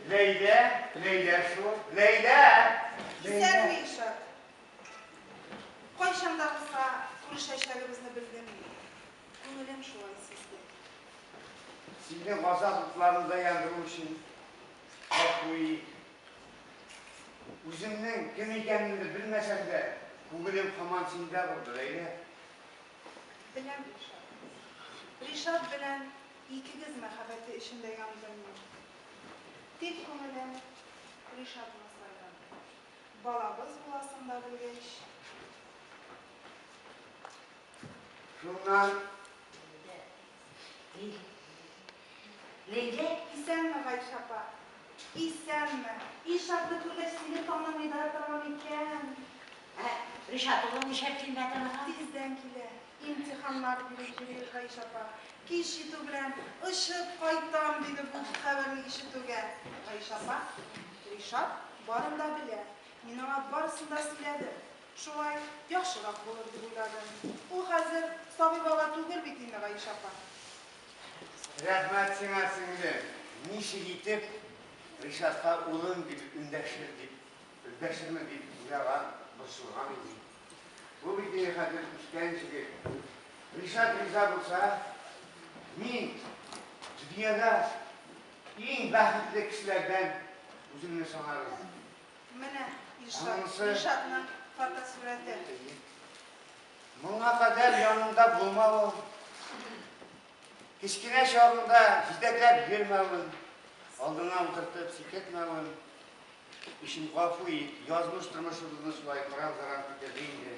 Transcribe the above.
Ләйлә, Ләйлә шу, Ләйлә! Исән ми, Илшат. Кайчан да булса күрешәчәгебезне белдем. Күңелем шулай сизде. Сине газап утларында яндыру өчен гафу ит. Үземнең кем икәнемне белмәсәм дә, күңелем һаман синдә булды, Ләйлә. Беләм, Ришат. Ришат белән икегез мәхәббәте эчендә яндым мин. Тик күңелем Ришатны сайрады. Балабыз буласын да белгәч. Шуннан. Ләйлә, исәнме, Гайшә апа? Исәнме. Илшатны күргәч, сине танымый да торам икән. Ә Ришат улы нишләп килмәде аңа? Тиздән килә. Имтиханнар биреп йөри, Гайшә апа. Кич җитү белән, очып кайтам, диде бу хәбәрне ишетүгә. Гайшә апа, Ришат барын да белә. Мин аңа барысын да сөйләдем. Шулай яхшырак булыр дип уйлады. Ул хәзер сабый бала түгел бит инде, Гайшә апа. Рәхмәт сиңа, сеңлем. Ничек итеп Ришатка улым дип эндәшер дип, эндәшермен дип уйлаган, борчылган идем. Бу бит инде хәзер үскән җегет. Ришат риза булса, мин дөньяда иң бәхетле кешеләрдән үземне санармын. Менә Илшат, Илшатның фотосурәте. Моңа кадәр янында булмавым, кечкенә чагында җитәкләп йөрмәвем, алдыңа утыртып сикертмәвем өчен гафу ит, язмыш тормышыбызны шулай кыран-заран китерде инде.